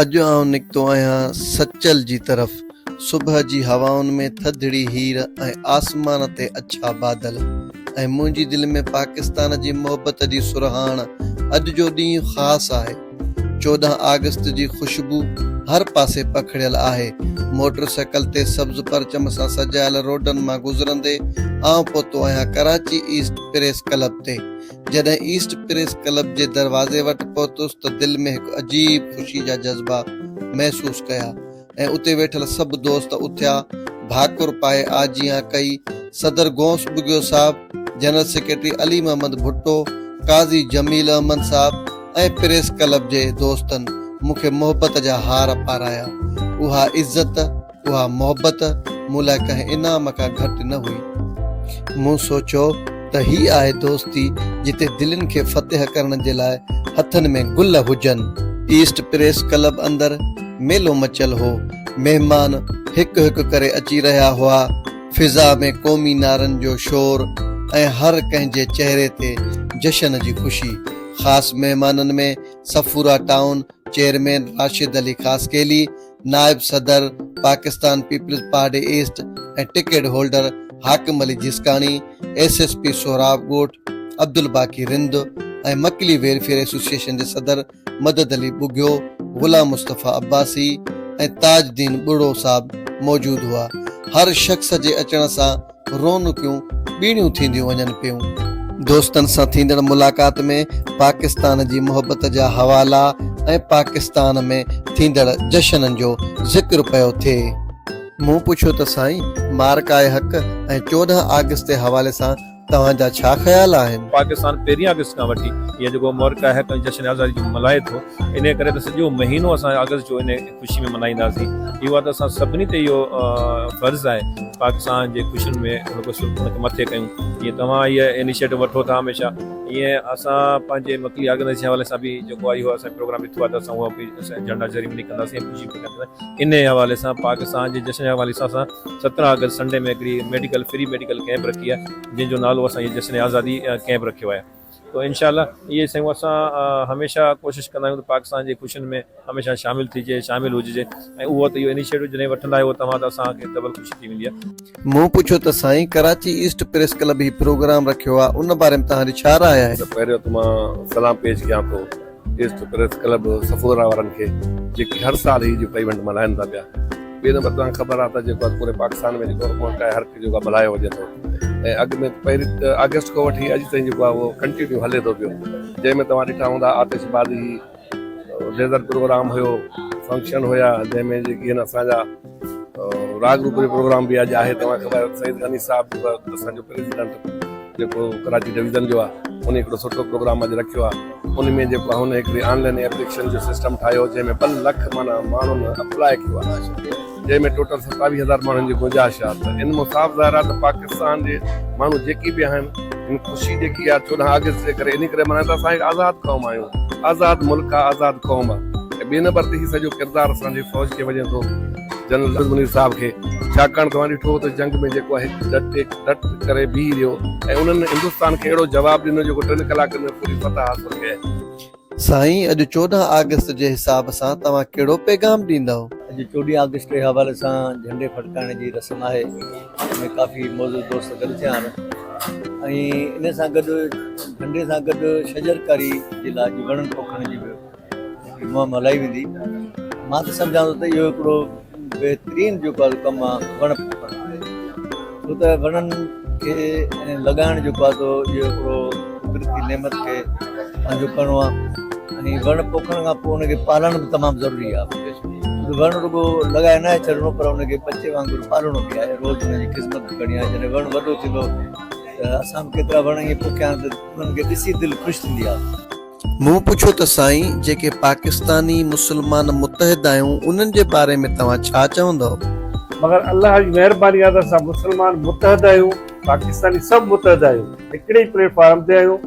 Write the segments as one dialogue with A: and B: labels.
A: اڄ آئون نڪتو آهيان سچل جي طرف. صبح جي هوائن ۾ ٿڌڙي هير ۽ آسمان تي اڇا بادل ۽ منهنجي دل ۾ پاڪستان جي محبت جي سرهاڻ. اڄ جو ڏينهن خاص آهي. چوڏهن آگسٽ جي خوشبو هر پاسي پکڙيل آهي. موٽر سائيڪل تي سبز پرچم سان سجايل روڊن مان گذرندي آئون پهتو آهيان ڪراچي ايسٽ پريس ڪلب تي. جڏهن ايسٽ پريس ڪلب جي دروازي وٽ پهتس ته دل ۾ هڪ عجيب خوشي جا جذبا محسوس ڪيا ۽ اتي ويٺل سڀ دوست اٿيا، ڀاڪر پائي آجيان ڪئي، صدر غوث ٻگهيو صاحب، جنرل سيڪريٽري علي محمد ڀٽو، قاضي جميل احمد صاحب ۽ پريس ڪلب جي دوستن مون کي محبت جا هار پارايا. اها عزت. اها محبت مون لاء ڪنهن انعام کان گهٽ نه هئي. مون سوچيو ته هي آهي دوستي جتي دلين کي فتح ڪرڻ جي لاء هٿن ۾ گل هجن. ايسٽ پريس ڪلب اندر ميلو مچيل هو. مهمان هڪ هڪ ڪري اچي رهيا هئا. فضا ۾ قومي نعرن جو شور ۽ هر ڪنهن جي چهري تي جشن جي خوشي. خاص مهمانن ۾ صفورا ٽائون چيئرمين راشد علي خاصخيلي، نائب صدر Pakistan peoples party east ۽ ticket holder Hakim Ali Jiskani, S S P Sohrab Goth, Abdul Baqi Rind ۽ Makli welfare association جي صدر مدد علي ٻگهيو، غلام مصطفيٰ عباسي ۽ تاج الدين ٻرڙو صاحب موجود هئا. هر شخص جي اچڻ سان رونقيون ٻيڻيون ٿينديون وڃن پيون. دوستن سان ٿيندڙ ملاقات ۾ پاڪستان جي محبت جا حوالا ۽ پاڪستان ۾ ٿيندڙ جشنن جو ذڪر پيو ٿئي. مون پڇيو ته سائين معرڪاء حق ۽ چوڏهن آگسٽ جي حوالي سان توهان جا ڇا خيال آهن؟ پاڪستان پهرين آگسٽ
B: کان وٺي هي جيڪو معرڪاء حق ۽ جشن آزادي جو ملهائي ٿو انهي ڪري ته سڄو مهينو اسان آگسٽ جو انهي خوشي ۾ ملهائينداسين اهو ته اسان سڀني تي اهو فرض آهي پاڪستان جي خوشين ۾ هڪ مٿي ڪيون جي توهان هي انيشيٽو وٺو ٿا هميشه هي اسان پنهنجي مڪلي آرگنائيز جي حوالي سان به جيڪو آهي اهو اسان پروگرام ڏٺو آهي ته اسان اهو به جهنڊا سيريمني ڪنداسين خوشي به ڪنداسين انهي حوالي سان پاڪستان جي جشن جي حوالي سان اسان سترهن آگسٽ سنڊي ۾ هڪڙي ميڊيڪل فري ميڊيڪل ڪيمپ رکي آهي جنهن جو نالو اسان جي جشن آزادي ڪيمپ رکيو آهي تو انشاء الله اهي شيون اسان هميشه ڪوشش ڪندا آهيون ته پاڪستان جي خوشين ۾ هميشه شامل ٿجي شامل هججي ۽ اهو ته اهو انيشيٽو جڏهن وٺندا آهيو توهان ته اسان کي ڊبل خوشي ٿي ويندي آهي. مون پڇيو ته سائين
A: ڪراچي ايسٽ پريس ڪلب هي پروگرام رکيو آهي ان باري ۾ توهان جي ڇا راء آهي؟ ته پهريون ته مان
C: سلام پيش ڪيان ٿو. ايسٽ پريس ڪلب صفوره وارن کي جيڪي هر سال هي جيڪو ايونٽ ملهائن ٿا پيا ٻي نمبر توهان کي خبر آهي ته جيڪو پوري پاڪستان ۾ جيڪو ملڪ آهي هر جيڪو ملهايو وڃي ٿو ۽ اڳ ۾ پهرين آگسٽ کان وٺي اڄ تائين جيڪو آهي اهو ڪنٽينيو هلي ٿو پيو جنهن ۾ توهان ڏٺا هوندا آتش بازي ليزر پروگرام هيو فنڪشن هيا جنهن ۾ جيڪي آهن اسان جا راڳ روپ جو پروگرام به اڄ آهي توهان کي خبر آهي سيد غني صاحب اسانجو پريزيڊنٽ جيڪو ڪراچي ڊويزن جو آهي ان هڪڙو سٺو پروگرام اڄ رکيو آهي ان ۾ جيڪو هن هڪڙي آن لائن ايپليڪشن جو سسٽم ٺاهيو جنهن ۾ ٻه لک مانا ماڻهن اپلاء ڪيو آهي جنهن ۾ ٽوٽل ستاويهه هزار ماڻهن جي گنجائش آهي ته ان مون صاف ظاهر آهي ته پاڪستان جي ماڻهو جيڪي به آهن ان خوشي جيڪي آهي چوڏهن آگسٽ جي ڪري ان ڪري ملهائين ته اسان هڪ آزاد قوم آهيون آزاد ملڪ آهي آزاد قوم آهي ٻئي نمبر تي هي سڄو ڪردار اسان جي فوج کي وڃي ٿو جنرل عبد المنير صاحب کي ڇاڪاڻ توهان ڏٺو ته جنگ ۾ جيڪو آهي ڊٽي ڊٽ ڪري بيهي رهيو ۽ انهن هندستان کي اهڙو جواب ڏنو جيڪو ٽن ڪلاڪن ۾ پوري فتح حاصل ڪئي. سائين اڄ چوڏهن
A: آگسٽ جي حساب سان توهان ڪهڙو پيغام ڏيندؤ؟ اڄ چوڏهين آگسٽ
D: جي حوالي سان جهنڊي ڦڙڪائڻ جي رسم آهي ان ۾ ڪافي معزز دوست گڏ ٿيا آهن ۽ ان سان گڏ جهنڊي سان گڏ شجرڪاري جي لاء جي وڻن پوکڻ جي به منهن مان لهي ويندي. مان ته سمجهان ٿو ته اهو هڪڙو بهترين جيڪو آهي ڪم آهي وڻ پوکڻ لاء ڇو ته وڻن کي لڳائڻ جيڪو آهي سو اهو هڪڙو قدرتي نعمت کي پنهنجو ڪرڻو آهي ۽ وڻ پوکڻ کان پوء ان کي پالڻ به تمام ضروري آهي وڻ رڳو لڳائي ناهي ڇڏڻو پر ان کي ٻچي وانگر پالڻو به آهي روز ان جي خذمت به ڪرڻي آهي جڏهن وڻ وڏو ٿيندو ته اسان به ڪيترا وڻ ائين پوکيا آهن ته انهن کي ڏسي دل خوش ٿيندي آهي. مون پڇيو
A: ته سائين جيڪي پاڪستاني مسلمان متحد آهيون انهن جي باري ۾ توهان ڇا چوندؤ؟ مگر الله
E: جي مهرباني آهي ته اسان مسلمان متحد آهيون پاڪستاني سڀ متحد آهيون هڪڙي ئي پليٽ فارم تي آهيون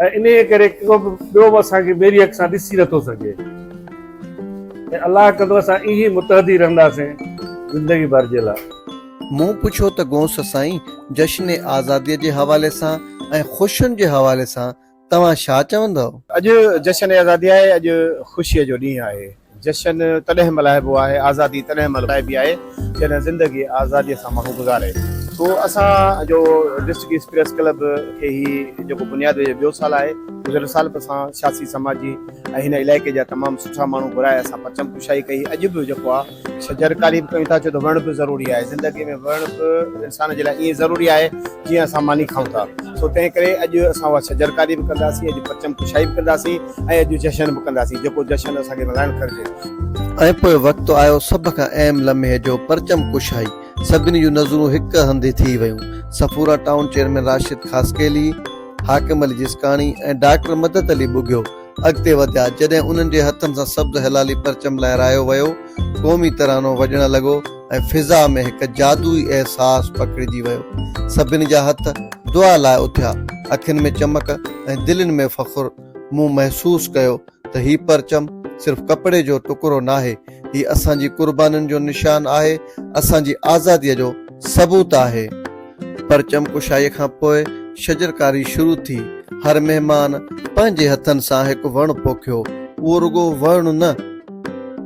E: ۽ انهيء ڪري ڪو به ٻيو به اسان کي ميري اک سان ڏسي نه ٿو سگهي ۽ الله ڪندو اسان ائين ئي متحد ئي رهنداسين زندگي ڀر جي لاء. مون پڇيو
A: ته گونس سائين جشن آزادي جي حوالي سان ۽ خوشين جي حوالي سان توهان ڇا
F: چوندؤ؟ اڄ
A: جشن
F: آزادي آهي، اڄ خوشيء جو ڏينهن
A: آهي.
F: جشن تڏهن ملهائبو آهي، آزادي تڏهن ملهائبي آهي، جڏهن زندگي آزاديء سان ماڻهو گذاري ٿو. اسان جو ڊسٽرڪٽ ايسٽ پريس ڪلب کي هي جيڪو بنياد وجهي ٻيو سال آهي، گذريل سال به اسان سياسي، سماجي ۽ هن علائقي جا تمام سٺا ماڻهو گهرائي اسان پرچم ڪشائي ڪئي، اڄ به جيڪو آ. شجرڪاري به ڪيون ٿا ڇو ته وڻ به ضروري آهي زندگي ۾ وڻ به انسان جي لاء ائين ضروري آهي جيئن اسان ماني کائون ٿا سو تنهن ڪري اڄ اسان اها شجرڪاري به ڪنداسين اڄ پرچم ڪشائي به ڪنداسين ۽ اڄ جشن به ڪنداسين جيڪو جشن اسان کي ملهائڻ گهرجي. ۽ پوء وقت
A: آيو سڀ کان اهم لمحي جو پرچم ڪشائي سڀني جون نظرون هڪ هنڌ ٿي ويون Safoora town chairman Rashid Khaskheli, Hakim Ali Jaskani ۽ doctor مدد علي ٻگهيو، اڳتي وڌيا، جڏهن انهن جي هٿن سان سبز هلالي پرچم لهرايو ويو، قومي ترانو وڄڻ لڳو ۽ فضا ۾ هڪ جادوئي احساس پکڙجي ويو. سڀني جا هٿ دعا لاء اٿيا، اکين ۾ چمڪ ۽ دلين ۾ فخر. مون محسوس ڪيو ته هي پرچم صرف ڪپڙي جو ٽڪرو ناهي، هي اسان جي قربانين جو نشان آهي، اسان جي آزاديء جو. ثبوت آهي. پرچم ڪشائيء کان پوء شجرڪاري شروع ٿي. هر مهمان پنهنجي هٿن سان هڪ وڻ پوکيو. اهو رڳو وڻ نه،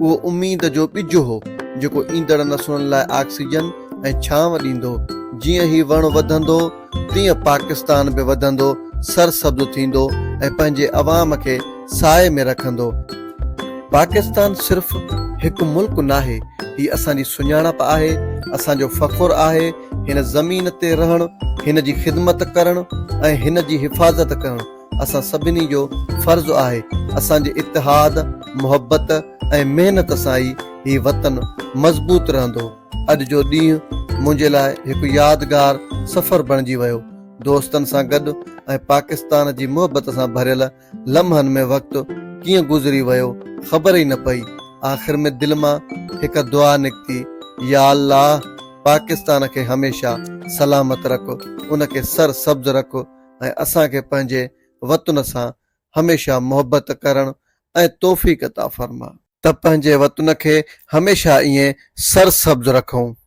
A: اهو اميد جو ٻج هو، جيڪو ايندڙ نسلن لاء آڪسيجن ۽ ڇانو ڏيندو. جيئن هي وڻ وڌندو، تيئن پاڪستان به وڌندو، سرسبز ٿيندو ۽ پنهنجي عوام کي سائي ۾ رکندو. پاڪستان صرف هڪ ملڪ ناهي، هي اسان جي سڃاڻپ آهي، اسان جو فخر آهي، هن زمين تي رهڻ، هن جي خدمت ڪرڻ ۽ هن جي حفاظت ڪرڻ اسان سڀني جو فرض آهي، اسان جي اتحاد، محبت ۽ محنت سان ئي هي وطن مضبوط رهندو. اڄ جو ڏينهن منهنجي لاء هڪ يادگار سفر بڻجي ويو. دوستن سان گڏ ۽ پاڪستان جي محبت سان ڀريل لمحن ۾ وقت ڪيئن گذري ويو خبر ئي نه پئي. آخر ۾ دل مان هڪ دعا نڪتي، يا الله پاڪستان کي هميشه سلامت رک، ان کي سر سبز رک ۽ اسان کي پنهنجي وطن سان هميشه محبت ڪرڻ ۽ توفيق عطا فرما. ته پنهنجي وطن کي هميشه ائين سرسبز رکون.